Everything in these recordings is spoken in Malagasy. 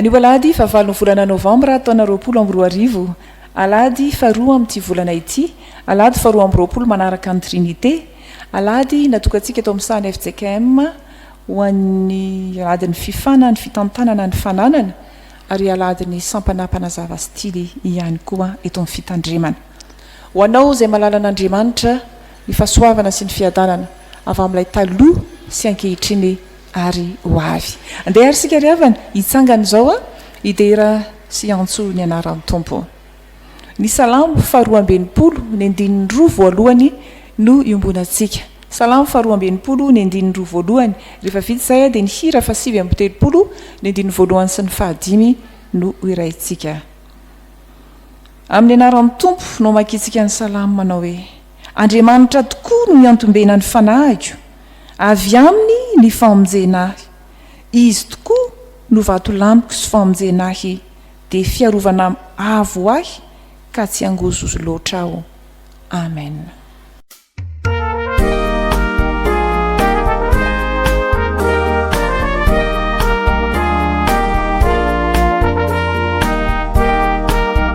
Anio alahady fahavalo ny volana novambra taona roapolo amby roa arivo, alahady faharoa amin'ity volana ity, alahady faharoa amby roapolo manaraka ny Trinite, alahady natokantsika eto amin'ny sahan'ny fjkm ho an'ny alahadin'ny fifana ny fitantanana ny fananana ary alahadin'ny sampana mpanazava stily ihany koa eto amin'ny fitandremana. Ho anao izay malalan'Andriamanitra ny fahasoavana sy ny fiadanana avy amin'ilay taloha sy ankehitriny ary ho avy. Andeha ary isika ry havana, hitsangana izao an, hidera sy hiantso ny anaran'ny Tompo. Ny Salamo faharoa amby enimpolo, ny andininy roa voalohany no iombonantsika. Salamo faharoa amby enimpolo, ny andininy roa voalohany. Rehefa vita izay dia ny hira fahasivy amby telopolo, ny andininy voalohany sy ny fahadimy no hohiraintsika. Amin'ny anaran'ny Tompo no amakiantsika ny Salamo manao hoe. Andriamanitra tokoa no iantombena ny fanahiko, avy Aminy ny famonjena ahy. Izy tokoa no vatolaniko sy famonjena ahy, dia fiarovana avo ho ahy ka tsy hangozozo loatra aho. Amen.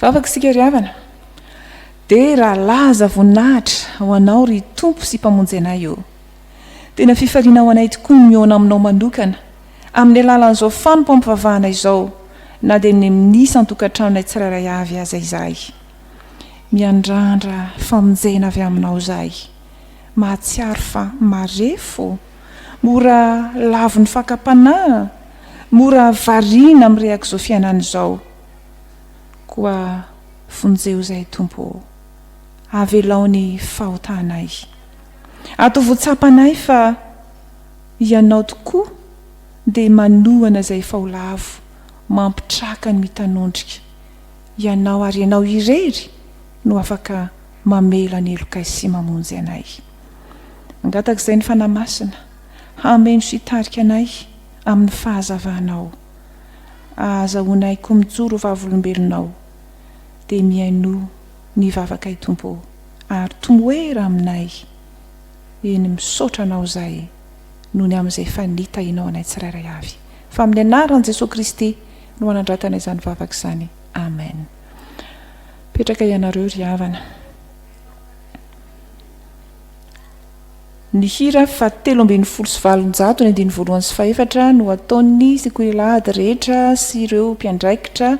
Vavaka isika ry havana. Dia raha laza voninahitra ho anao ry Tompo sy Mpamonjy anay ô. Tena fifaliana ho anay tokoa ny mihaona aminao manokana amin'ny alalan'izao fanompoam-pivavahana izao na dia ny amin'ny isan-tokantranonay tsirairay avy aza izahay. Miandrandra famonjena avy aminao izahay. Mahatsiaro fa marefo, mora lavon'ny fakam-panahy, mora variana mireak'izao fiainana izao. Koa vonjeo izay Tompo ô. Avelao ny fahotanay. Atovo tsapanay fa Ianao tokoa dia manohana izay efa ho lavo, mampitraka ny mitanondrika. Ianao ary Ianao irery no afaka mamela ny helokay sy mamonjy anay. Mangataka izay ny Fanahy Masina hameno sy hitarika anay amin'ny fahazavanao. Ahazahoanay koa mijoro ho vavolombelonao. Dia mihainoa ny vavakay Tompo ô, ary tomoera aminay. Eny, misaotra Anao izay nony amin'izay efa nitahinao anay tsirairay avy. Fa amin'ny anaran'i Jesoa Kristy no hanandratana izany vavaka izany. Amen. Petraka ianareo ry havana. Ny hira fa telo ambin'ny folo sy valonjato ny andiny voalohany sy fahefatra no ataon'ny sekoilahady rehetra sy ireo mpiandraikitra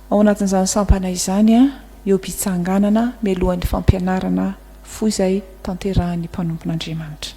ao anatin'izany sampana izany eo am-pitsanganana mialohan'ny fampianarana fohy izay tanterahin'ny mpanompon'Andriamanitra.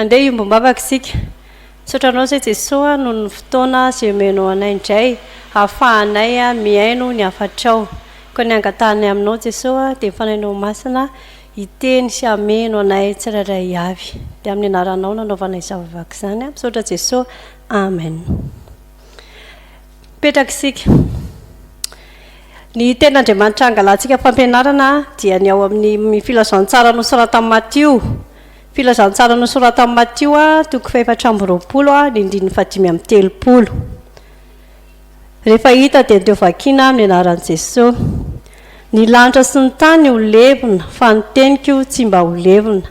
Handeha hiombom-bavaka isika. Misaotra Anao izay Jesoa a, noho ny fotoana izay omenao anay indray ahafahanay mihaino ny hafatrao. Koa ny angatahanay aminao Jesoa a, dia ny Fanahinao Masina hiteny sy hameno anay tsirairay avy. Dia amin'ny Anaranao no anaovanay izany vavaka izany a. Misaotra Jesoa. Amen. Mipetraka isika. Ny Tenin'Andriamanitra angalantsika fampianarana dia ny ao amin'ny Filazantsara nosoratan'i Matio. Filazantsara nosoratan'i Matio, toko fahefatra amby roapolo, ny andininy fahadimy amby telopolo. Rehefa hita dia ndio vakiana amin'ny anaran'i Jesosy. Ny lanitra sy ny tany ho levona, fa ny teniko tsy mba ho levona.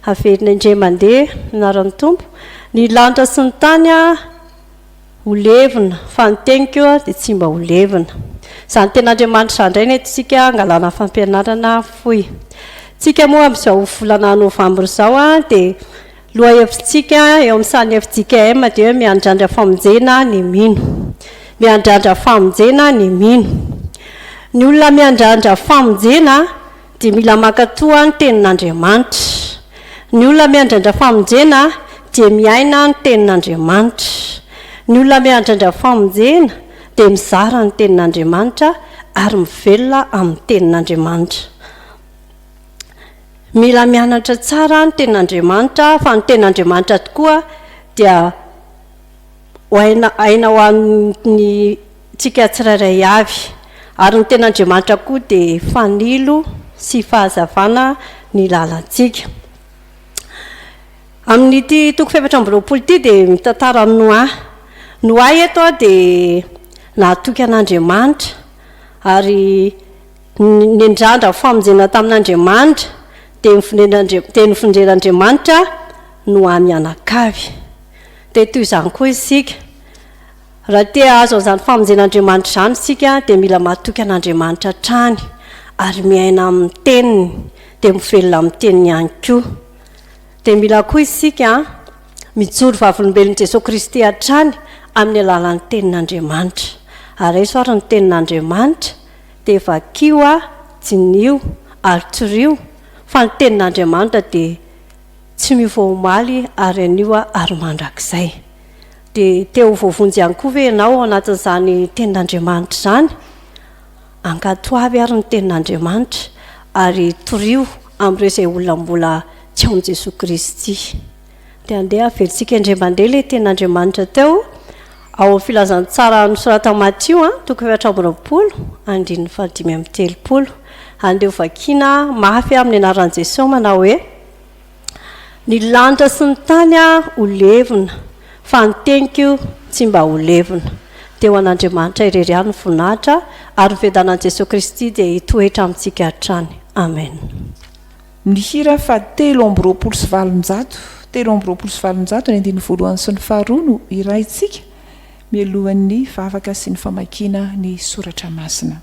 Haverina indray mandeha, ny anaran'ny Tompo. Ny lanitra sy ny tany Ho levona, fa ny teniko dia tsy mba ho levona. Izany teny Andriamanitra izany indray no entintsika hangalana fampianarana fohy. Tsika moa amin'izao volana novambra izao dia lohahevitsika eo amin'ny sahan'ny FJKM dia hoe miandrandra famonjena ny mino. Miandrandra famonjena ny mino. Ny olona miandrandra famonjena dia mila mankatò ny Tenin'Andriamanitra. Ny olona miandrandra famonjena dia miaina ny Tenin'Andriamanitra. Ny olona miandrandra famonjena dia mizara ny Tenin'Andriamanitra ary mivelona amin'ny Tenin'Andriamanitra. Mila mianatra tsara ny Tenin'Andriamanitra fa ny Tenin'Andriamanitra tokoa dia aina ho an'ny Tsika tsirairay avy. Ary ny Ten'Andriamanitra koa dia fanilo sy fahazavana ny lalantsika. Amin'ity toko fahefatra amby roapolo ity dia mitantara an'i Noa. Noa eto dia nahatoky an'Andriamanitra ary nendrandra famonjena tamin'Andriamanitra dia nofendren'Andriamanitra Noa mianakavy. Dia toy izany koa isika. Raha te hahazo an'izany famonjen'Andriamanitra izany isika dia mila matoky an'Andriamanitra hatrany ary miaina amin'ny teniny dia mivelona amin'ny teniny ihany koa. Dia mila koa isika mijoro vavolombelon'i Jesoa Kristy hatrany amin'ny alalan'ny tenin'Andriamanitra. Araiso ary ny tenin'Andriamanitra dia vakio a, diniho ary toriho fa ny tenin'Andriamanitra dia tsy miova omaly ary anio ary mandrakizay. Dia te ho voavonjy ihany koa ve ianao ao anatin'izany Tenin'Andriamanitra izany? Ankatoavy àry ny Tenin'Andriamanitra, ary torio amin'ireo izay olona mbola tsy ao amin'i Jesoa Kristy. Dia andeha avelantsika indray mandeha ilay Tenin'Andriamanitra teo, ao amin'ny filazantsara nosoratan'i Matio, toko efatra amby roapolo, andininy fahadimy amby telopolo. Andeha hovakiana mafy amin'ny anaran'i Jesoa manao hoe. Ny lanitra sy ny tany ho levona, fa ny teniko tsy mba ho levona. Dia ho an'Andriamanitra irery ihany ny voninahitra, ary ny fiadanan'i Jesoa Kristy dia hitoetra amintsika hatrany. Amen. Ny hira faha telo amby roapolo sy valonjato, telo amby roapolo sy valonjato, ny andininy voalohany sy ny faharoa no hiraintsika mialohan'ny vavaka sy ny famakiana ny soratra masina.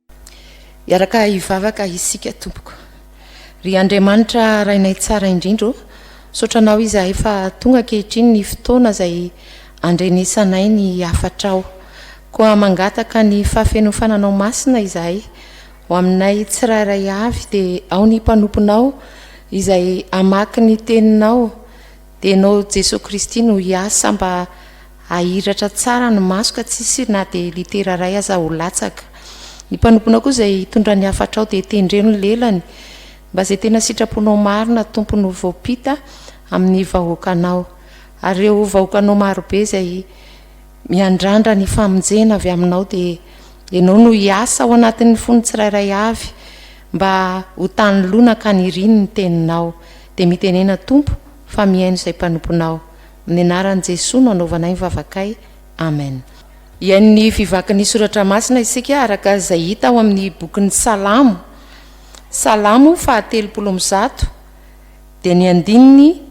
Hiaraka hivavaka isika tompoko. Ry Andriamanitra Rainay tsara indrindra ô, misaotra Anao izahay fa tonga ankehitriny ny fotoana izay andrenesanay ny hafatrao. Koa mangataka ny fahafenofananao masina izahay, ho aminay tsirairay avy dia ao ny mpanomponao izay hamaky ny teninao, Dia Ianao Jesoa Kristy no hiasa mba hahiratra tsara ny maso ka tsisy na dia litera iray aza ho latsaka. Ny mpanomponao koa izay hitondra ny hafatrao dia tendreo ny lelany mba izay tena sitraponao marina Tompony ho voampita amin'ny vahoakanao ary ireo vahoakanao marobe izay miandrandra ny famonjena avy aminao dia Ianao no hiasa ao anatin'ny fon'ny tsirairay avy mba ho tany lonaka niriny ny teninao Dia mitenena Tompo fa mihaino izay mpanomponao. Amin'ny anaran'i Jesoa no anaovanay ny vavakay. Amen. Hihaino ny fivakin'ny soratra masina isika araka izay hita ao amin'ny bokin'ny Salamo, Salamo faha telopolo amby zato, dia ny andininy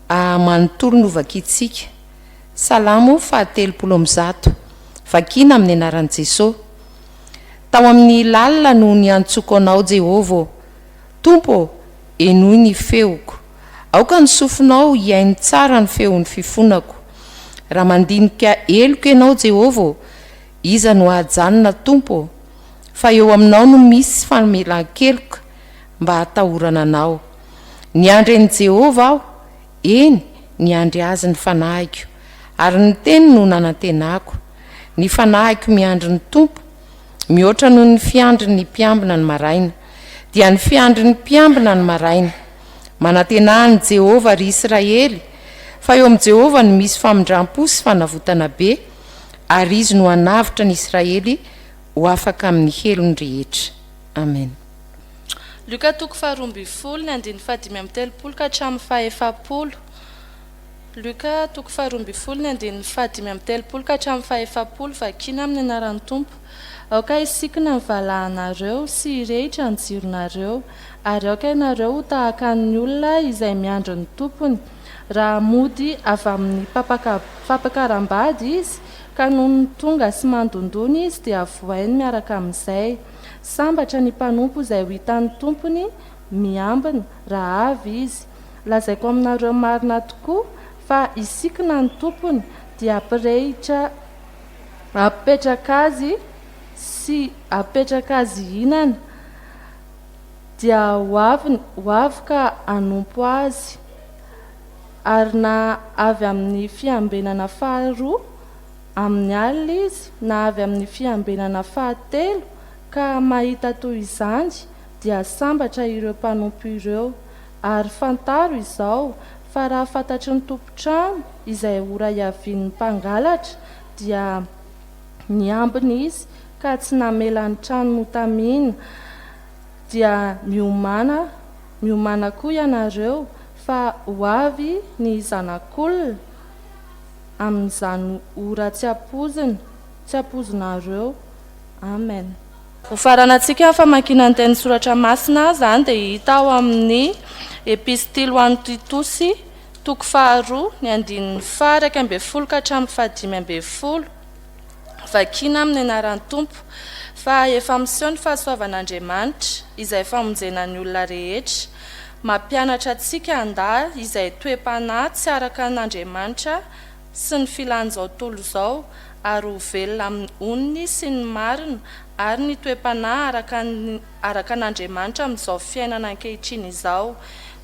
manontolo no vakintsika. Salamo faha telopolo amby zato. Vakina amin'ny anaran'i Jesoa. Tao amin'ny lalina no niantsoko anao Jehovah ô. Tompo ô, Henoy ny feoko. Aoka ny sofinao hihaino tsara ny feon'ny fifonako. Raha mandinika heloka ianao, Jehovah ô, iza no hajanona, Tompo ô? Fa eo aminao no misy famelan-keloka, mba hatahorana anao. Niandry an'i Jehovah aho, eny, niandry azy ny fanahiko, ary ny teniny no nanantenako. Ny fanahiko miandry ny Tompo. Mihoatra noho ny fiandry ny mpiambina ny maraina, dia ny fiandry ny mpiambina ny maraina. Manantena an'i Jehovah ry Isiraely, fa eo amin'i Jehovah no misy famindram-po sy fanavotana be, ary izy no hanavotra ny Isiraely ho afaka amin'ny helony rehetra. Amen. Lioka toko faharoa ambin'ny folo, ny andininy fahadimy amby telopolo ka hatramin'ny fahefapolo. Luka, toko faharoa ambin'ny folo, ny andininy fahadimy amby telopolo ka hatramin'ny fahefapolo, Vakina amin'ny anaran'ny Tompo. Aoka hisikina ny valahanareo sy hirehitra ny jironareo, ary aoka ianareo ho tahaka ny olona izay miandry ny tompony, raha mody avy amin'ny fampakaram-bady izy, ka nony tonga sy mandondona izy dia vohainy miaraka amin'izay. Sambatra ny mpanompo izay ho hitan'ny tompony miambina, raha avy izy. Lazaiko aminareo marina tokoa, fa hisikina ny tompony, dia hampirehitra hampipetraka azy sy hampipetraka azy hihinana, dia ho avy ho avy ka hanompo azy, ary na avy amin'ny fiambenana faharoa amin'ny alina izy, na avy amin'ny fiambenana fahatelo ka mahita toy izany, dia sambatra ireo mpanompo ireo, Ary fantaro izao, fa raha fantatry ny tompon-trano izay ora hiavian'ny mpangalatra, dia niambina izy ka tsy namela ny trano notamina, dia miomana, miomana koa ianareo, fa ho avy ny Zanak'olona amin'izany ora tsy ampoizina, tsy ampoizinareo. Amen. Ho faranantsika famakiana ny teny soratra masina izany dia hita ao amin'ny Epistily ho an'ny Titosy, toko faharoa, ny andininy faha-iraika ambin'ny folo ka hatramin'ny fahadimy ambin'ny folo, Vakina amin'ny anaran'ny Tompo, fa efa miseho ny fahasoavan'Andriamanitra, izay famonjena ny olona rehetra. Mampianatra antsika handà izay toe-panahy tsy araka an'Andriamanitra sy ny filan'izao tontolo izao ary ho velona amin'ny onony sy ny marina ary ny toe-panahy araka ny araka an'Andriamanitra amin'izao fiainana ankehitriny izao,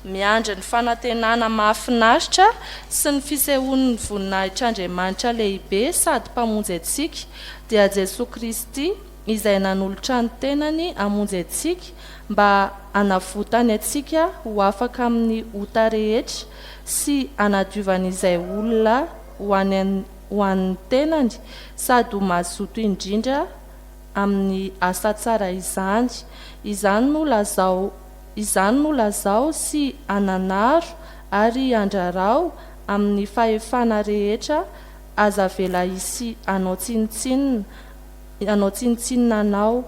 miandry ny fanantenana mahafinaritra sy ny fisehoan'ny voninahitr'Andriamanitra lehibe sady Mpamonjy antsika, dia Jesoa Kristy izay nanolotra ny tenany hamonjy antsika mba hanavotany antsika ho afaka amin'ny ota rehetra, sy hanadiovany izay olona ho any ho an'ny tenany sady ho mazoto indrindra amin'ny asa tsara izany. Izany no lazao izany no lazao sy ananaro ary andrarao amin'ny fahefana rehetra aza avela hisy hanao tsinontsinona hanao tsinontsinona anao.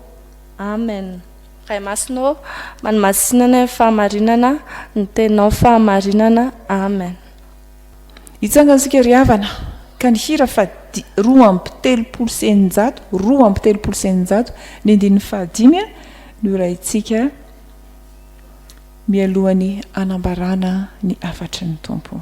Amen. Ray Masina ô, manimasinana ny fahamarinana, ny Teninao fahamarinana. Amen. Hitsangana isika ry havana ka ny hira faha di, roa amby telopolo sy eninjato, roa amby telopolo sy eninjato, ny andininy faha dimy a, no horahintsika mialohan'ny hanambarana ny hafatry ny Tompo.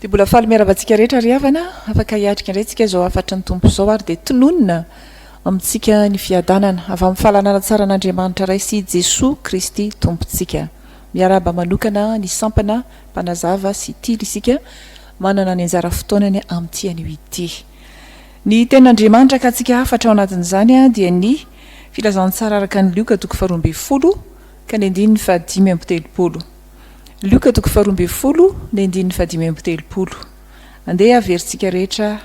Dia mbola faly miarahaba antsika rehetra ry havana. Afaka hiatrika indray tsika izao hafatry ny Tompo izao ary dia tononina amintsika ny fiadanana avy amin'ny fahalalana tsara an'Andriamanitra Ray sy Jesoa Kristy Tompontsika. Miarahaba manokana ny sampana mpanazava sy tily isika manana ny anjara fotoanany amin'ity anio ity. Ny Tenin'Andriamanitra akatsika hafatra ao anatin'izany dia ny Filazantsara araka an'i Lioka toko faharoa ambin'ny folo ka ny andininy fahadimy amby telopolo. Lioka toko faharoa ambin'ny folo, ny andininy fahadimy amby telopolo. Andeha averintsika rehetra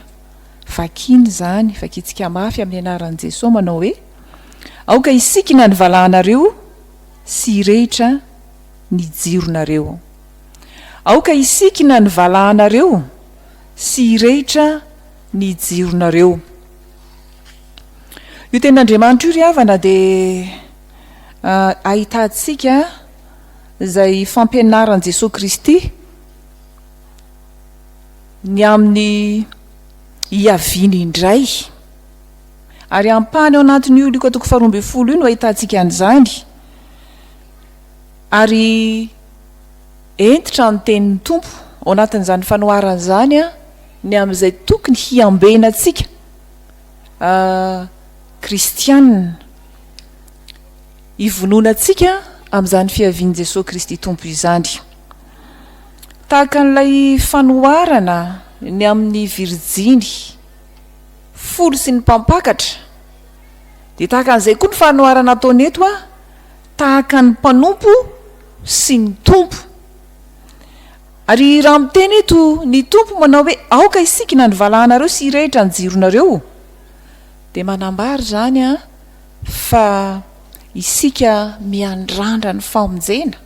vakina izany, vakintsika mafy amin'ny anaran'i Jesoa manao hoe, Aoka hisikina ny valahanareo sy hirehitra ny jironareo. Aoka hisikina ny valahanareo. sy hirehitra ny jironareo. Io tenin'Andriamanitra io ry havana dia ahitantsika izay fampianaran'i Jesoa Kristy ny amin'ny hiaviany indray. Ary ampahany ao anatin'io Lioka toko faharoa ambin'ny folo io no ahitantsika an'izany. Ary Hentitra ny tenin'ny Tompo ao anatin'izany fanoharana izany ny amin'izay tokony hiambena antsika kristiana, hivononantsika amin'izany fiavian'i Jesoa Kristy Tompo izany. Tahaka an'ilay fanoharana ny amin'ny virjiny folo sy ny mpampakatra, dia tahaka an'izay koa ny fanoharana ataony eto, tahaka ny mpanompo, sy ny Tompo. Ary raha miteny eto ny Tompo manao hoe aoka hisikina ny valahanareo sy hirehitra ny jironareo dia manambara izany fa isika miandrandra ny famonjena.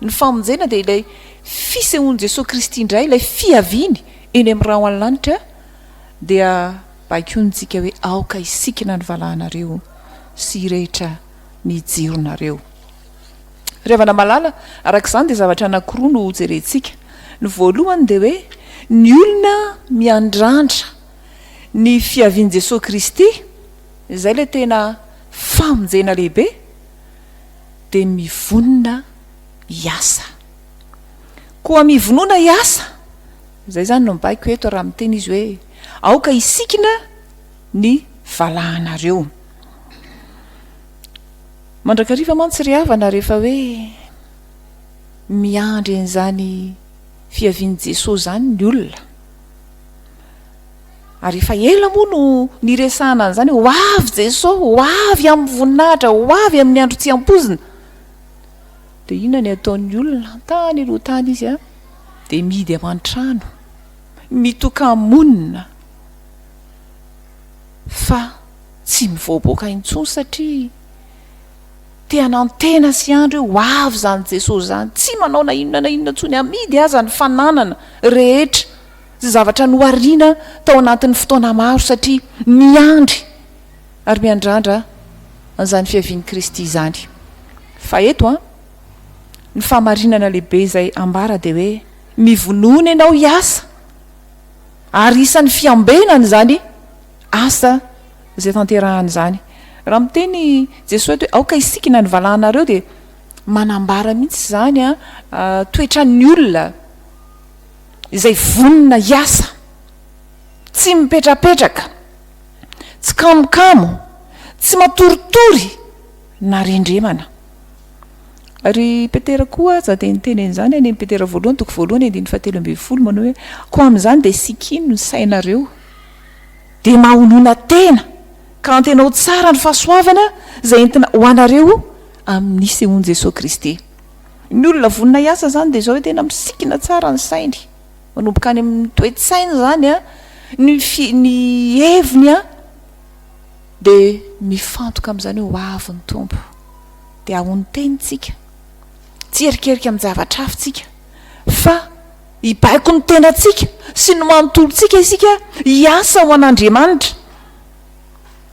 Ny famonjena dia ilay fisehoan'i Jesoa Kristy indray, ilay fiaviany eny amin'ny rahona lanitra dia baikointsika hoe aoka hisikina ny valahanareo sy hirehitra ny jironareo. Ry havana malala, araka izany dia zavatra anankiroa no hojerentsika. Ny voalohany dia hoe ny olona miandrandra ny fiavian'i Jesoa Kristy, izay ilay tena famonjena lehibe, dia mivonona hiasa. Koa mivonona hiasa, izay izany no mibaiko eto raha miteny izy hoe aoka hisikina ny valahanareo. Mandrakariva mantsy ry havana rehefa hoe miandry an'izany fiavian'i Jesoa izany ny olona. Ary efa ela moa no niresahana an'izany hoe ho avy Jesoa, ho avy amin'ny voninahitra, ho avy amin'ny andro tsy ampoizina. Dia inona ny ataon'ny olona? Tany aloha tany izy a, dia mihidy aman-trano, mitoka-monina fa. Tsy mivoaboaka intsony satria te hanantena sy handry hoe ho avy izany Jesosy izany. Tsy manao na inona na inona intsony, amidy aza ny fananana rehetra sy zavatra nohariana tao anatin'ny fotoana maro satria miandry ary miandrandra an'izany fiavian'i Kristy izany. Fa eto ny fahamarinana lehibe izay ambara dia hoe mivonona ianao hiasa ary isan'ny fiambenana izany. Asa izay tanterahany izany. Raha miteny Jesoa eto hoe aoka hisikina ny valahanareo dia manambara mihitsy izany toetran'ny olona izay vonona hiasa, tsy mipetrapetraka, tsy kamokamo, tsy matoritory na rendremana. Ary Petera koa aza dia niteny an'izany any amin'ny Petera voalohany toko voalohany andininy fahatelo ambin'ny folo manao hoe koa amin'izany dia sikino ny sainareo. dia mahonona tena, ka antenao tsara ny fahasoavana izay entina ho anareo amin'ny nisehoan'i Jesoa Kristy. Ny olona vonona hiasa izany dia izao hoe tena misikina tsara ny sainy, manomboka any amin'ny toe-tsainy izany an, ny fi, ny heviny an, dia mifantoka amin'izany hoe ho avy ny Tompo, dia ahoa ny tenintsika, tsy hierikerika amin'ny zavatra hafa tsika fa Hibaiko ny tenantsika sy ny manontolontsika isika hiasa ho an'Andriamanitra,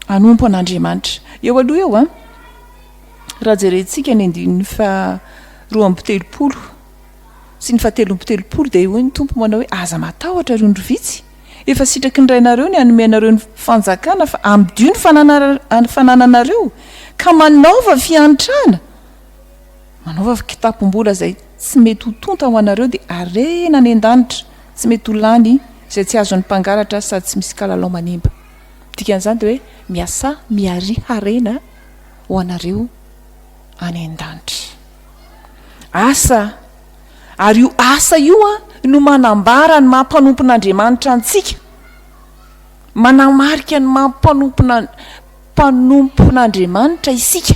hanompo an'Andriamanitra. Eo aloha eo an, raha jerentsika ny andininy faharoa amby telopolo sy ny fahatelo amby telopolo dia hoy ny Tompo manao hoe aza matahotra ry ondry vitsy, efa sitraky ny Rainareo ny hanome anareo ny fanjakana fa amidio ny fanananareo ka manaova fiantrana Manaova kitapom-bola izay tsy mety ho tonta ho anareo dia harena any an-danitra, tsy mety ho lany izay tsy azon'ny mpangalatra sady tsy misy kalalao manimba. Dikan'izany dia hoe miasà miaria harena ho anareo any an-danitra. Asa, ary io asa io no manambara ny maha mpanompon'Andriamanitra antsika, manamarika ny maha mpanompon'Andriamanitra isika.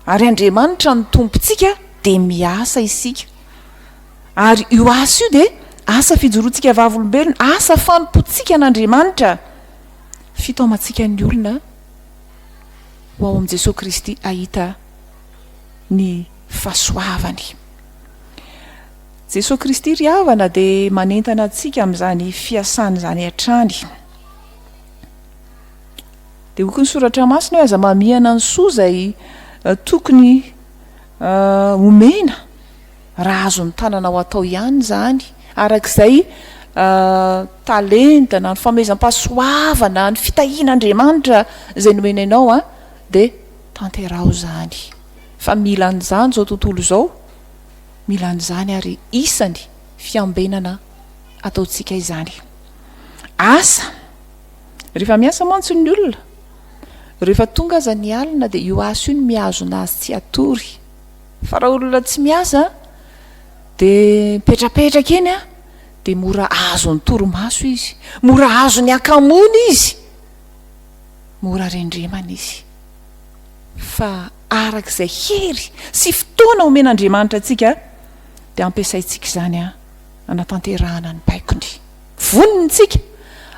Ary Andriamanitra no Tompontsika dia miasa isika. Ary io asa io dia asa fijoroantsika vavolombelona, asa fanompoantsika an'Andriamanitra, fitaomantsika ny olona ho ao amin'i Jesoa Kristy hahita ny fahasoavany. Jesoa Kristy ry havana dia manentana antsika amin'izany fiasany izany hatrany. Dia hoky ny soratra masina hoe aza mamihana ny soa izay tokony homena raha azon'ny tananao atao ihany izany araka izay talenta na ny fanomezam-pahasoavana ny fitahiana Andriamanitra izay nomena ianao an dia tanteraho izany fa mila an'izany izao tontolo izao mila an'izany ary isany fiambenana ataontsika izany asa Rehefa miasa mantsy ny olona, rehefa tonga aza ny alina dia io asa io no mihazona azy tsy hatory. Fa raha olona tsy miasa dia mipetrapetraka eny dia mora azon'ny torimaso izy, mora azon'ny hakamoana izy, mora rendremana izy. Fa araka izay hery sy fotoana omen'Andriamanitra antsika dia ampiasaintsika izany hanatanterahana ny baikony. Vonona isika.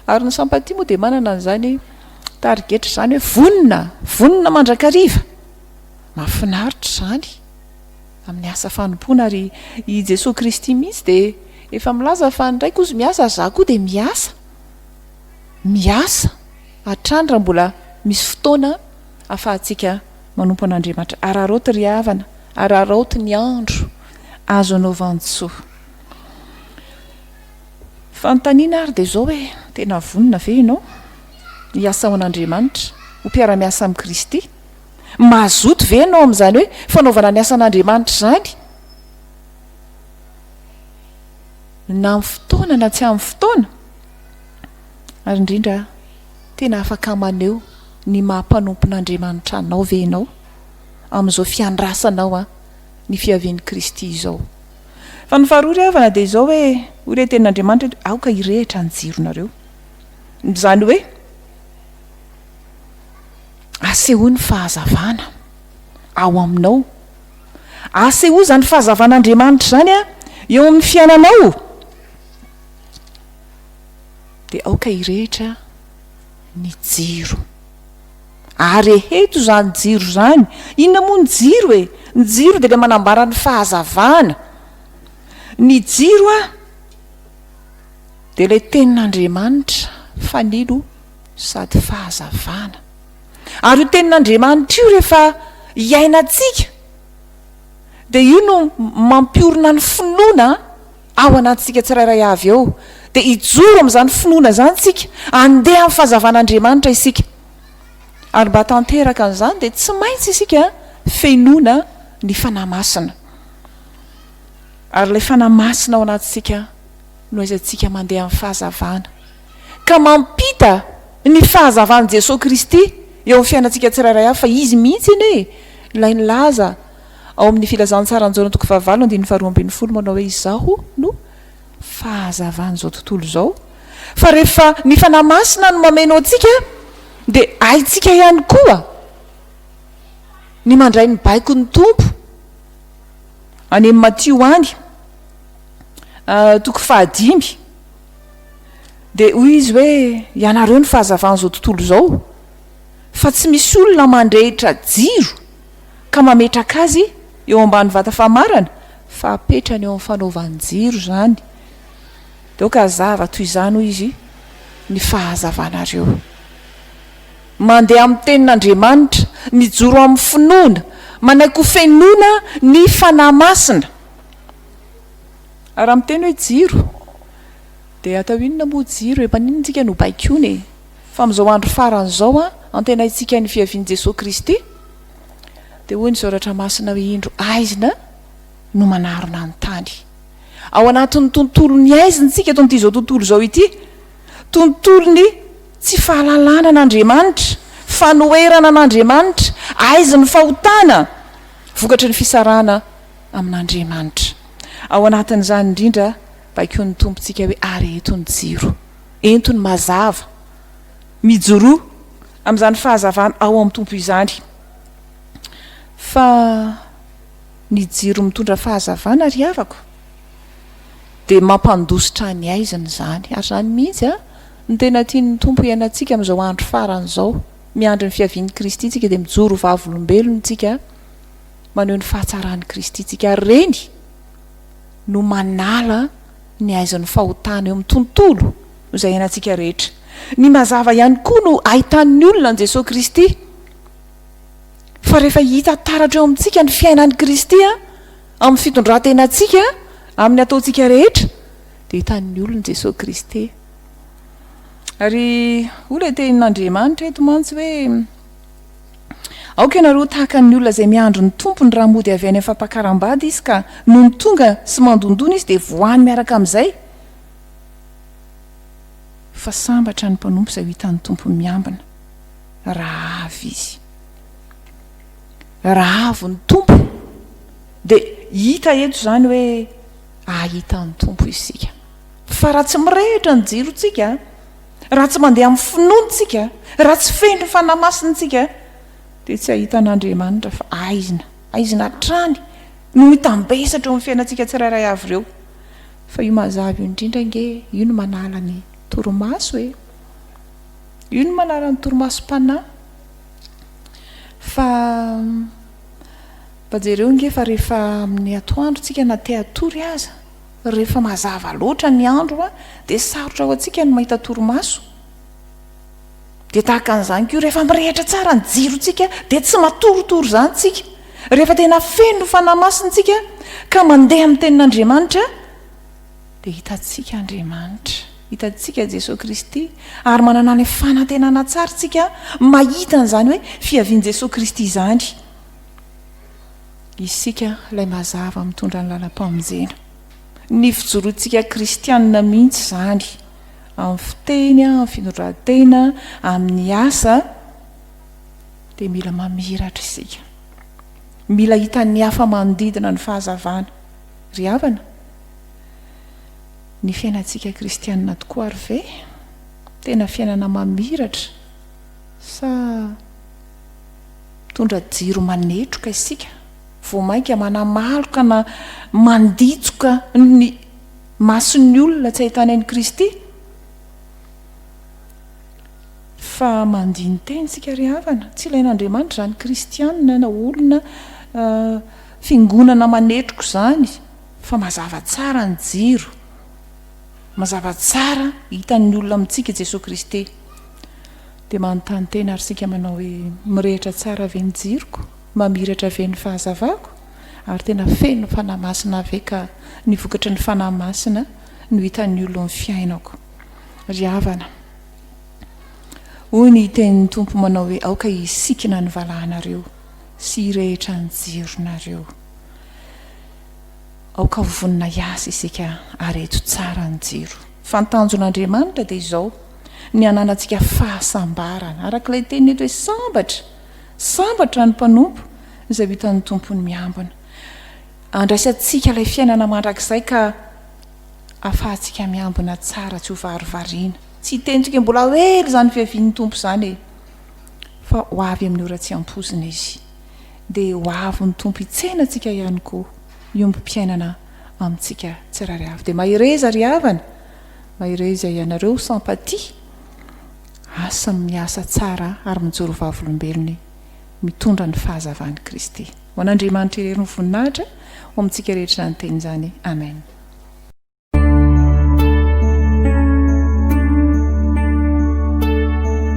Ary ny Sampatia moa dia manana an'izany tarigetra izany hoe vonona, vonona mandrakariva. Mahafinaritra izany amin'ny asa fanompoana ary i Jesoa Kristy mihitsy dia efa milaza fa ny Raiko hozy miasa ary Izaho koa dia miasa. Miasa hatrany raha mbola misy fotoana ahafahantsika manompo an'Andriamanitra. Araraoty ry havana, araraoty ny andro azo anaovan-tsoa. Fanontaniana ary dia izao hoe, tena vonona ve ianao hiasa ho an'Andriamanitra, ho mpiara-miasa amin'i Kristy? Mazoto ve ianao amin'izany hoe fanaovana ny asan'Andriamanitra izany na amin'ny fotoana na tsy amin'ny fotoana? Ary indrindra, tena afaka maneho ny maha-mpanompon'Andriamanitra anao ve ianao amin'izao fiandrasanao ny fiavian'i Kristy izao? Fa ny faharoa ry havana dia izao hoe, hoy ilay tenin'Andriamanitra eto, aoka hirehitra ny jironareo. Izany hoe, asehoy ny fahazavana ao aminao. Asehoy izany fahazavan'Andriamanitra izany eo amin'ny fiainanao. Dia aoka hirehitra ny jiro. Ary eheto izany jiro izany, inona moa ny jiro e? Ny jiro dia ilay manambara ny fahazavana. Ny jiro a, dia ilay tenin'Andriamanitra, fanilo sady fahazavana. Ary io tenin'Andriamanitra io rehefa iainantsika, dia io no mampiorina ny finoana. Ao anatintsika tsirairay avy ao, dia hijoro amin'izany finoana izany isika, handeha amin'ny fahazavan'Andriamanitra isika. Ary mba hahatanteraka an'izany dia tsy maintsy isika fenoina ny Fanahy Masina. Ary ilay Fanahy Masina ao anatintsika no aizantsika mandeha amin'ny fahazavana, ka mampita ny fahazavan'i Jesoa Kristy eo amin'ny fiainantsika tsirairay avy, fa Izy mihitsy anie ilay nilaza, Ao amin'ny Filazantsaranjaona toko fahavalo andininy faharoa ambin'ny folo manao hoe Izaho no fahazavan'izao tontolo izao fa rehefa ny Fanahy Masina no mameno antsika dia haintsika ihany koa ny mandray ny baikon'ny Tompo any amin'ny Matio any toko fahadimy dia hoy izy hoe ianareo ny fahazavan'izao tontolo izao fa tsy misy olona mandrehitra jiro ka mametraka azy eo ambany vata famarana fa apetrany eo amin'ny fanaovan-jiro izany dia aoka hazava toy izany hoy izy ny fahazavanareo mandeha amin'ny tenin'Andriamanitra mijoro amin'ny finoana manaiky ho fenoina ny Fanahy Masina ary raha miteny hoe jiro dia atao inona moa jiro e? maninona tsika no baikoina e? Fa amin'izao andro farany izao antenaintsika ny fiavian'i Jesoa Kristy, dia hoy ny Soratra Masina hoe indro haizina no manarona ny tany. Ao anatin'ny tontolon'ny haizina isika eto amin'ity izao tontolo izao ity, tontolon'ny tsy fahalalana an'Andriamanitra, fanoherana an'Andriamanitra, haizin'ny fahotana vokatry ny fisarahana amin'Andriamanitra. Ao anatin'izany indrindra baikoin'ny Tompontsika hoe ary eto ny jiro. Entony mazava. Mijoroa amin'izany fahazavana ao amin'ny Tompo izany. Fa ny jiro mitondra fahazavana ry havako dia mampandositra ny haizina izany. Ary izany mihitsy no tena tian'ny Tompo hiainantsika amin'izao andro farany izao. Miandry ny fiavian'i Kristy tsika dia mijoro ho vavolombelony tsika maneho ny fahatsaran'i Kristy tsika. Ary ireny no manala. Ny haizan'ny fahotana eo amin'ny tontolo no izay iainantsika rehetra. Ny mazava ihany koa no ahitan'ny olona an'i Jesoa Kristy. Fa rehefa hita taratra eo amintsika ny fiainan'i Kristy amin'ny fitondrantenantsika, amin'ny ataontsika rehetra, dia hitan'ny olona Jesoa Kristy. Ary hoy ilay tenin'Andriamanitra eto mantsy hoe Aoka ianareo ho tahaka ny olona izay miandry ny tompony raha mody avy any amin'ny fampakaram-bady izy ka nony tonga sy mandondona izy dia voany miaraka amin'izay fa sambatra ny mpanompo izay ho hitan'ny tompony miambina raha avy izy raha avy ny tompo dia hita eto izany hoe ahita ny tompo isika fa raha tsy mirehitra ny jirontsika Raha tsy mandeha amin'ny finoana isika, raha tsy feno ny Fanahy Masina isika, dia tsy hahita an'Andriamanitra fa haizina, haizina hatrany no mitambesatra eo amin'ny fiainantsika tsirairay avy ireo. Fa io mazava io indrindra ange, io no manala ny torimaso e. Io no manala ny torimasom-panahy. Fa mba jereo ange fa rehefa amin'ny atoandro tsika na te hatory aza, Rehefa mazava loatra ny andro dia sarotra ho antsika ny mahita torimaso. Dia tahaka an'izany koa rehefa mirehitra tsara ny jirontsika dia tsy matoritory izany isika. Rehefa tena feno ny Fanahy Masina isika ka mandeha amin'ny Tenin'Andriamanitra dia hitantsika Andriamanitra, hitantsika Jesoa Kristy ary manana ny fanantenana tsara isika mahita an'izany hoe fiavian'i Jesoa Kristy izany. Isika ilay mazava mitondra ny lalam-pamonjena. Ny fijoroantsika kristianina mihitsy izany, amin'ny fiteny, amin'ny fitondran-tena, amin'ny asa, dia mila mamiratra isika. Mila hitan'ny hafa manodidina ny fahazavana. Ry havana, ny fiainantsika kristianina tokoa ary ve tena fiainana mamiratra sa Mitondra jiro manetroka isika vao mainka manamaloka na manditsoka ny mason'ny olona tsy ahitany an'i Kristy. Fa mandini-teny isika ry havana, tsy ilain'Andriamanitra izany kristiana na olona fiangonana manetroka izany fa mazava tsara ny jiro, mazava tsara hitan'ny olona amintsika i Jesoa Kristy. Dia manontany tena ary isika manao hoe, mirehitra tsara ve ny jiroko? Mamiratra ve ny fahazavako? Ary tena feno Fanahy Masina ve ka ny vokatry ny Fanahy Masina no hitan'ny olon'ny fiainako? Ry havana, hoy ny tenin'ny Tompo manao hoe, aoka hisikina ny valahanareo sy hirehitra ny jironareo. Aoka ho vonona hiasa isika ary eto tsara ny jiro. Fa ny tanjon'Andriamanitra dia izao. ny hananantsika fahasambarana. Araka ilay teniny eto hoe sambatra, sambatra ny mpanompo izay ho hitan'ny tompony miambina. Andraisantsika ilay fiainana mandrakizay ka afahantsika miambina tsara tsy ho varivariana. Tsy hitentika mbola ho ela izany fiavian'ny tompo izany e. Fa ho avy amin'ny ora tsy ampoizina izy. Dia ho avy ny tompo hitsena antsika ihany koa, hiombom-piainana amintsika tsirairay avy. Dia mahereza ry havana. Mahereza ianareo sympathie asa miasa tsara ary mijoro vavolombelony mitondra ny fahazavany Kristy ho an'Andriamanitra irery ny voninahitra ho amintsika rehetra izany teny izany Amen.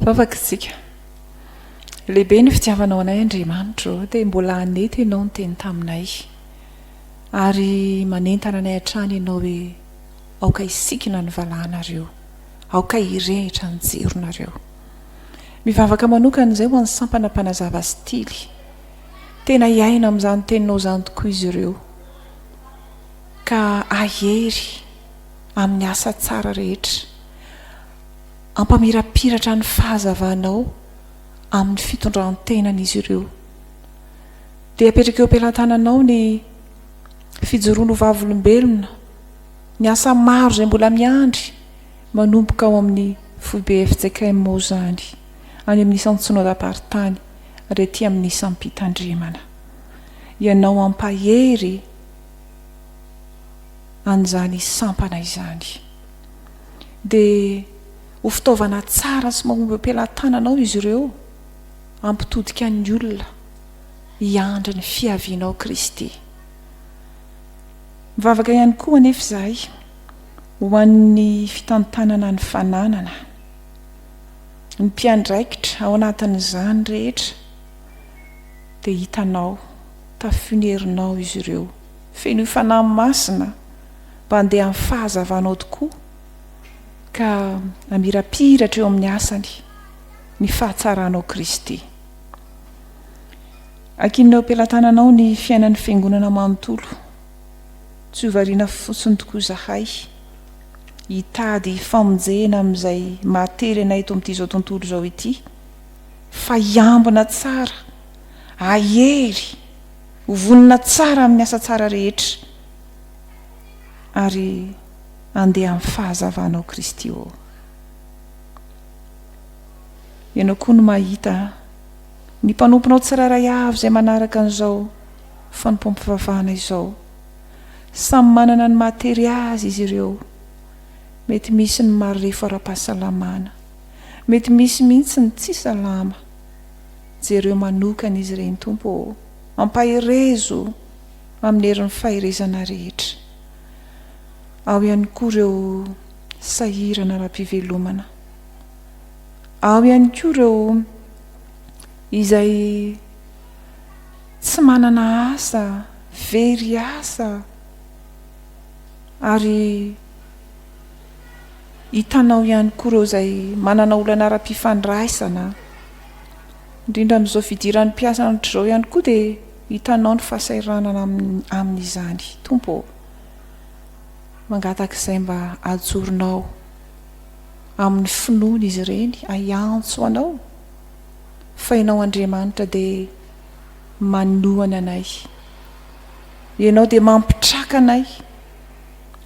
Vavaka isika. Lehibe ny fitiavanao anay Andriamanitro ô, dia mbola hanety Ianao niteny taminay. Ary manentana anay hatrany Ianao hoe, Aoka hisikina ny valahanareo, aoka hirehitra ny jironareo. Mivavaka manokana izay ho an'ny sampana mpanazava sy tily. Tena hiaina amin'izany Teninao izany tokoa izy ireo, ka hahery amin'ny asa tsara rehetra. hampamirapiratra ny fahazavanao amin'ny fitondran-tenan'izy ireo. Dia apetraka eo am-pelantananao ny fijoroany ho vavolombelona, ny asa maro izay mbola miandry manomboka ao amin'ny foibe fjkm ao izany, any amin'ny isan'ny Synodam-paritany ary aty amin'ny isam-pitandremana. Ianao hampahery an'izany sampana izany. dia ho fitaovana tsara sy mahomby am-pelatananao izy ireo hampitodika ny olona hiandry ny fiavianao Kristy. Mivavaka ihany koa anefa izahay ho an'ny fitantanana ny fananana ny mpiandraikitra ao anatin'izany rehetra dia hitanao tafin'ny herinao izy ireo fenoy Fanahy Masina mba handeha amin'ny fahazavanao tokoa ka hamirapiratra eo amin'ny asany ny fahatsaranao Kristy. Ankinina eo am-pelatananao ny fiainan'ny Fiangonana manontolo. Tsy ho variana fotsiny tokoa izahay hitady famonjena amin'izay mahatery anay eto amin'ity izao tontolo izao ity fa hiambina tsara, hahery, Ho vonona tsara amin'ny asa tsara rehetra ary handeha amin'ny fahazavana ao Kristy ô. Ianao koa no mahita ny mpanomponao tsirairay avy izay manaraka an'izao fanompoam-pivavahana izao. Samy manana ny mahatery azy izy ireo. Mety misy ny marefo ara-pahasalamana. Mety misy mihitsy ny tsy salama. Jereo manokana izy ireny Tompo ô! Ampaherezo amin'ny herin'ny faherezana rehetra. Ao ihany koa ireo sahirana ara-pivelomana. Ao ihany koa ireo izay tsy manana asa, very asa ary hitanao ihany koa ireo izay manana olana ara-pifandraisana, indrindra amin'izao fidiran'ny mpiasa an'otr'izao ihany koa dia hitanao ny fahasahiranana amin'izany. Tompo ô, mangatak'izay mba ajoronao amin'ny finoana izy ireny ahiantso Anao fa Ianao Andriamanitra dia manohana anay, Ianao dia mampitraka anay,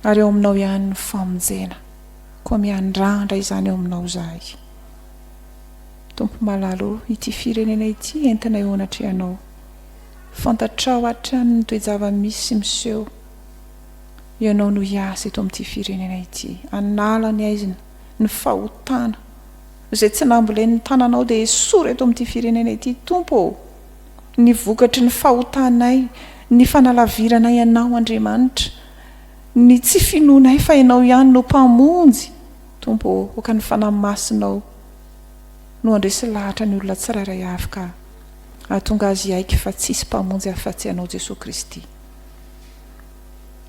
ary ao aminao ihany ny famonjena, koa miandrandra izany ao aminao izahay. Tompo malala o, ity firenena ity entinay eo anatrehanao, fantatrao hatrany ny toe-java-misy miseho, ianao no hiasa eto amin'ity firenena ity, hanala ny aizina, ny fahotana, izay tsy nambolen'ny tananao dia esory eto amin'ity firenena ity Tompo o! ny vokatry ny fahotanay, ny fanalaviranay Anao, Andriamanitra, ny tsy finoanay fa Ianao ihany no Mpamonjy, Tompo ô, aoka ny Fanahy Masinao no handresy lahatra ny olona tsirairay avy ka hahatonga azy hiaiky fa tsy hisy Mpamonjy afa-tsy Anao Jesoa Kristy.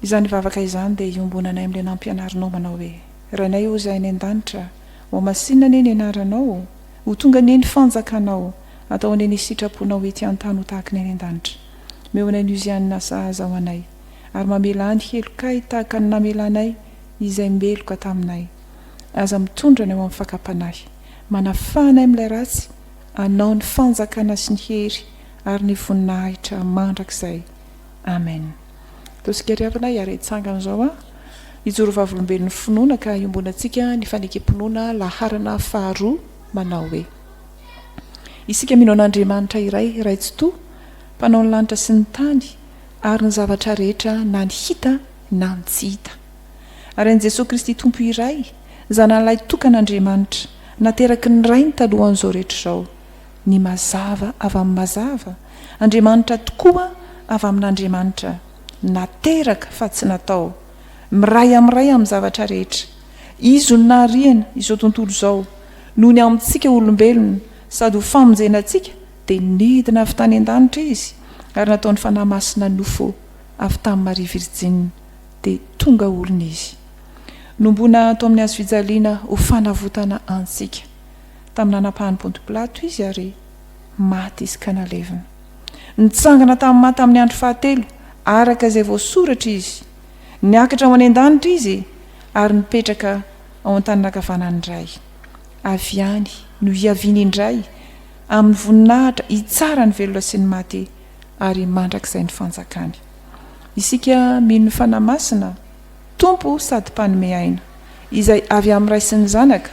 Izany vavaka izany dia iombonanay amin'ilay nampianarinao manao hoe, Rainay ô Zay any an-danitra, hohamasinina anie ny Anaranao, Ho tonga anie ny fanjakanao, atao anie ny sitraponao ety an-tany ho tahaky ny any an-danitra. Omeo anay ny uziany nasahaza ho anay, ary mamelà ny helokay tahaka ny namelanay izay meloka taminay. Aza mitondra anay ho amin'ny fakam-panahy. Manafaha anay amin'ilay ratsy, anao ny fanjakana sy ny hery ary ny voninahitra mandrakizay. Amen. Tosika ry havana hiara hitsangana izao an! Hijoro vavolombelon'ny finoana ka iombonantsika ny fanekem-pinoana laharana faharoa manao hoe. Isika mino an'Andriamanitra iray, Ray Tsitoha, Mpanao ny lanitra sy ny tany ary ny zavatra rehetra na ny hita na ny tsy hita. Ary an'i Jesoa Kristy Tompo iray, Zanany Lahy Tokan'Andriamanitra, nateraky ny Rainy talohan'izao rehetra izao. Ny mazava avy amin'ny mazava, Andriamanitra tokoa avy amin'Andriamanitra, nateraka fa tsy natao, miray amiray amin'ny zavatra rehetra. Izy no nahariana izao tontolo izao, noho ny amintsika olombelona sady ho famonjena antsika dia nidina avy tany an-danitra Izy ary nataony Fanahy Masina nofo avy tamin'i Maria Virjinina dia tonga olona Izy. Nombona ato amin'ny hazofijaliana ho fanavotana antsika. Tamin'ny nanapahany Pontopilato izy ary maty izy ka nalevina. Nitsangana tamin'ny maha tamin'ny andro fahatelo araka izay voasoratra izy. Niakatra ho any an-danitra izy ary nipetraka ao an-tanana ankavanan'ny Ray. Avy any no hiaviany indray amin'ny voninahitra hitsara ny velona sy ny maty ary mandrakizay ny fanjakany. Isika mino ny Fanahy Masina. Tompo sady Mpanome aina, izay avy amin'ny Ray sy ny Zanaka,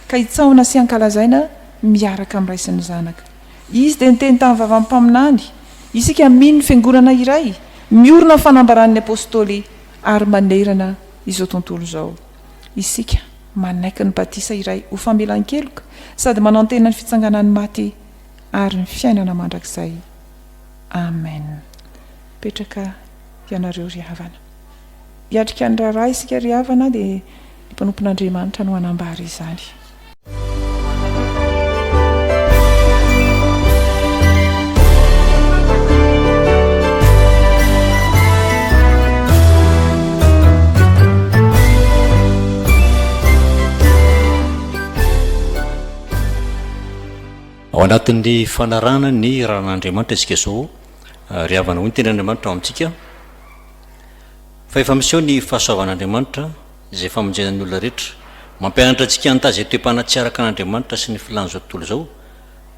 ka hitsahona sy hankalazaina miaraka amin'ny Ray sy ny Zanaka. Izy dia niteny tamin'ny vavan'ny mpaminany, isika mino ny Fiangonana iray, miorina amin'ny fanambaran'ny Apôstôly ary manerana izao tontolo izao. Isika manaiky ny batisa iray ho famelan-keloka sady manantena ny fitsanganan'ny maty ary ny fiainana mandrakizay. Amen. Petraka ianareo ry havana. Hiatrika ny raharaha isika ry havana dia ny mpanompon'Andriamanitra no hanambara izany. Ao anatin'ny fanarahana ny raharahan'Andriamanitra isika izao, ry havana, hoy ny tenin'Andriamanitra ao amintsika. Fa efa miseho ny fahasoavan'Andriamanitra izay famonjena ny olona rehetra. Mampianatra antsika hitahy izay toe-panahy tsy araka an'Andriamanitra sy ny filàn'izao tontolo izao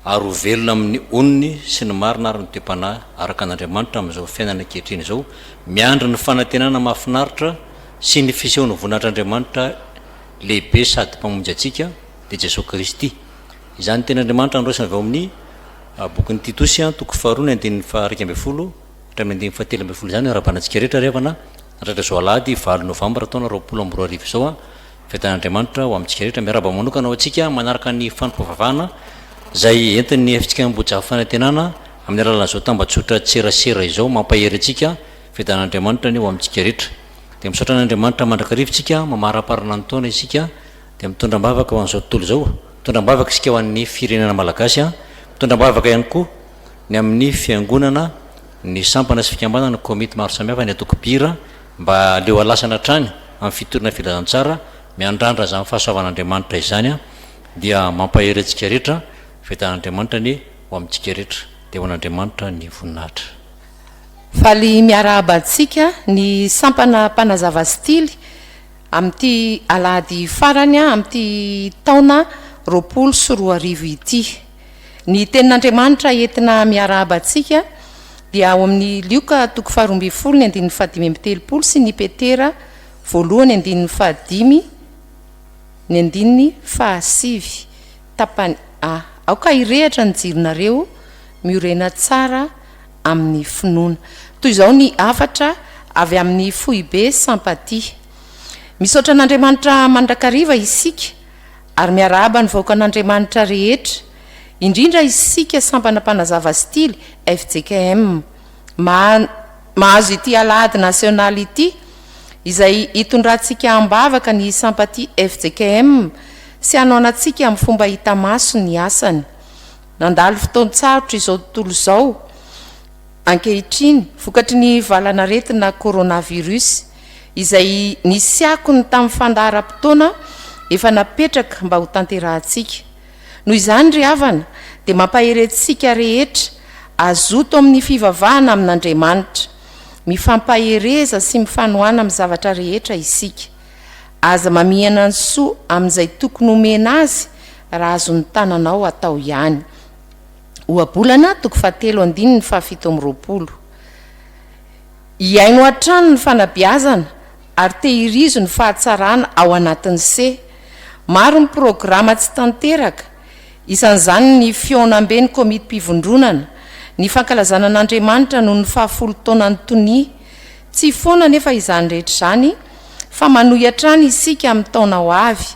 ary ho velona amin'ny onony sy ny marina ary ny toe-panahy araka an'Andriamanitra amin'izao fiainana ankehitriny izao miandry ny fanantenana mahafinaritra sy ny fisehon'ny voninahitr'Andriamanitra lehibe sady Mpamonjy antsika dia Jesoa Kristy. Izany tenin'Andriamanitra noraisina avy ao amin'ny bokin'i Titosy, toko faharoa, ny andininy faha iraika ambin'ny folo. Hatramin'ny andininy fahatelo ambin'ny folo izany no arahabanantsika rehetra ry havana, natratra izao alahady valo novambra taona roapolo amby roa arivo izao an, fiadanan'Andriamanitra ho amintsika rehetra, miarahaba manokana ho antsika manaraka ny fanompoam-pivavahana izay entin'ny FJKM Ambohijafy Fanantenana amin'ny alalan'izao tambajotra tserasera izao, mampahery antsika, fiadanan'Andriamanitra anie ho amintsika rehetra. Dia misaotra an'Andriamanitra mandrakariva isika, mamaraparana ny taona isika, dia mitondra am-bavaka ho an'izao tontolo izao, mitondra am-bavaka isika ho an'ny firenena malagasy an, mitondra am-bavaka ihany koa. ny amin'ny fiangonana, ny sampana sy fikambanana, ny komity maro samihafa, ny antoko Bira mba aleo alasana hatrany amin'ny fitoriana filazantsara miandrandra izany fahasoavan'Andriamanitra izany dia mampahery antsika rehetra, fiadan'Andriamanitra anie ho amintsika rehetra dia ho an'Andriamanitra ny voninahitra. Faly miarahaba antsika ny sampana mpanazava stily amin'ity alahady farany amin'ity taona roapolo sy roa arivo ity. Ny Tenin'Andriamanitra entina miarahaba antsika dia ao amin'ny Lioka toko faharoa ambin'ny folo ny andininy fahadimy amby telopolo sy ny Petera voalohany andininy fahadimy ny andininy fahasivy tapany a. Aoka hirehatra ny jironareo miorena tsara amin'ny finoana. Toy izao ny hafatra avy amin'ny foibe Sampatia. Misaotra an'Andriamanitra mandrakariva isika. Ary miarahaba ny vahoakan'Andriamanitra rehetra, indrindra isika Sampana Mpanazava Stily, fjkm, maha mahazo ity Alahady Nasionaly ity, izay hitondrantsika am-bavaka ny hisampaty fjkm sy hanoanantsika amin'ny fomba hita maso ny asany. Nandalo fotoan-tsarotra izao tontolo izao ankehitriny vokatry ny valanaretina Coronavirus, izay nisy akony tamin'ny fandaharam-potoana efa napetraka mba hotanterahantsika. Noho izany ry havana dia mampahery antsika rehetra hazoto amin'ny fivavahana amin'Andriamanitra. Mifampahereza sy mifanohana amin'ny zavatra rehetra isika. Aza mamihana ny soa amin'izay tokony homena azy raha azon'ny tananao atao ihany. Ohabolana toko fahatelo andininy fahafito amby roapolo. Hihaino hatrany ny fanabeazana ary tehirizo ny fahatsarana ao anatin'ny se. Maro ny programa tsy tanteraka, isan'izany ny fihaonamben'ny komitim-pivondronana, ny fankalazana an'Andriamanitra noho ny fahafolo taonan'ny tonia. Tsy foana anefa izany rehetra izany fa manohy hatrany isika amin'ny taona ho avy.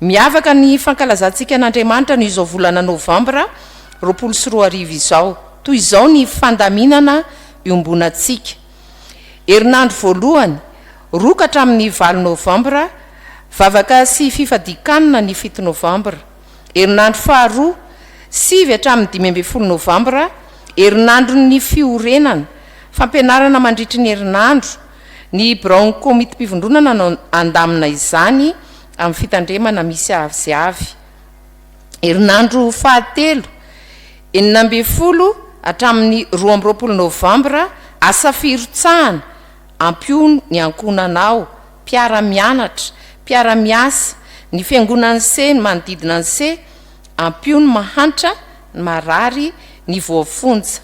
Miavaka ny fankalazantsika an'Andriamanitra ny izao volana novambra roapolo sy roa arivo izao. Toy izao ny fandaminana iombonantsika. Herinandro voalohany, roa ka hatramin'ny valo novambra, vavaka sy fifadian-kanina ny fito novambra. Herinandro faharoa, sivy hatramin'ny dimy ambin'ny folo novambra, herinandron'ny fiorenana, fampianarana mandritry ny herinandro, Ny biraon'ny Komitim-pivondronana no handamina izany amin'ny fitandremana misy avy sy avy. Herinandro fahatelo, enina ambin'ny folo hatramin'ny roa amby roapolo novambra, asa firotsahana, ampio ny ankohonanao, mpiara-mianatra, mpiara-miasa, ny fiangonan'ny se, ny manodidina ny se, ampio ny mahantra, ny marary, ny voafonja.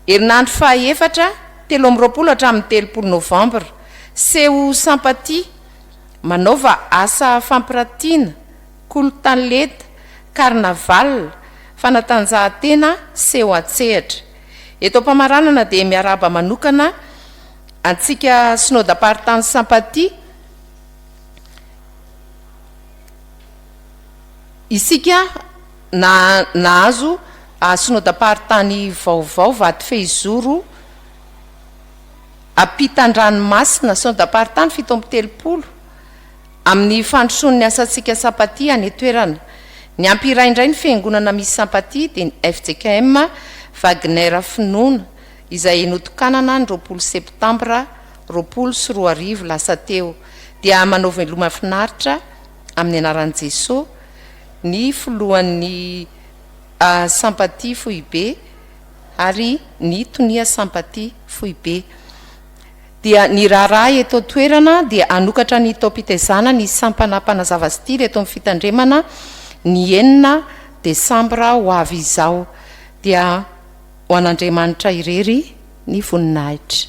Herinandro fahaefatra, telo amby roapolo hatramin'ny telopolo novambra, Seho Sympathie, manaova asa fampiratiana, kolotanleta, carnaval, fanatanjahantena, seho an-tsehatra. Eto am-pamaranana dia miarahaba manokana antsika Synodam-paritany Sympathie, isika, Na nahazo synodam-paritany vaovao Vatofehizoro ampitan-dranomasina, synodam-paritany fito amby telopolo, amin'ny fandrosoan' ny asantsika Sampatia any an-toerana. Niampy iray indray ny fiangonana misy Sampatia dia ny fjkm Wagner Finoana izay notokanana ny roapolo septambra roapolo sy roa arivo lasa teo dia manao veloma finaritra amin'ny anaran'i Jesoa, ny filohan'ny Sympathie foibe ary ny tonia Sympathie foibe. Dia ny raharaha eto an-toerana dia hanokatra ny taom-pitezana ny sampana mpanazava style eto amin'ny fitandremana ny enina desambra ho avy izao. Dia ho an'Andriamanitra irery ny voninahitra.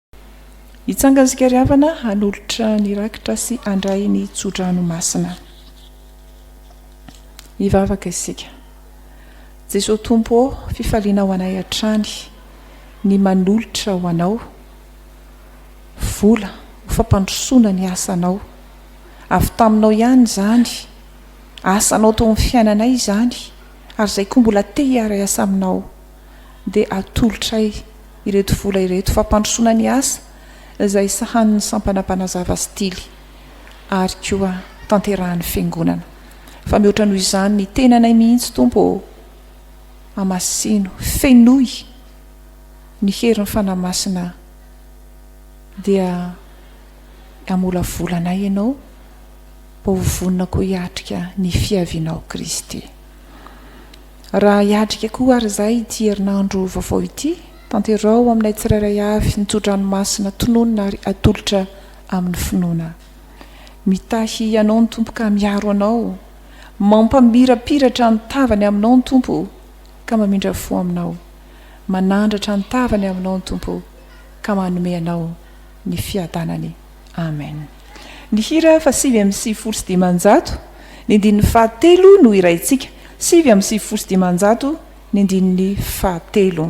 Hitsanga isika ry havana hanolotra ny rakitra sy handray ny tso-dranomasina. Hivavaka isika. Jesoa Tompo ô, fifaliana ho anay hatrany ny manolotra ho Anao vola ho fampandrosoana ny asanao. Avy taminao ihany izany, asanao teo amin'ny fiainanay izany ary izay koa mbola te hiara-hiasa aminao. dia atolotray ireto vola ireto fampandrosoana ny asa izay sahanin'ny sampana mpanazava sy tily ary koa tanterahan'ny fiangonana fa mihoatra noho izany ny tenanay mihitsy Tompo ô amasino fenoy ny herin'ny fanahy masina dia amolavola anay ianao mba ho vonona koa hiatrika ny fiavianao Kristy Raha hiatrika koa àry izahay ity herinandro vaovao ity, tanteraho aminay tsirairay avy ny tso-dranomasina tononina ary atolotra amin'ny finoana. Mitahy Ianao ny Tompo ka miaro anao, mampamirapiratra ny tavany aminao ny Tompo ka mamindra fo aminao, manandratra ny tavany aminao ny Tompo ka manome anao ny fiadanany. Amen. Ny hira fa sivy amby sivifolo sy dimanjato ny andininy fahatelo no hiraintsika, sivy amby sivifolo sy dimanjato ny andininy fahatelo.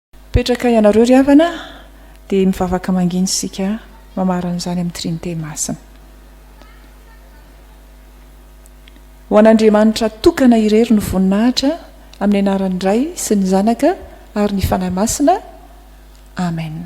Mipetraka ianareo ry havana dia mivavaka mangina isika mamarana izany amin'ny Trinite Masina. Ho an'Andriamanitra tokana irery ny voninahitra amin'ny anaran'ny Ray sy ny Zanaka ary ny Fanahy Masina. Amen.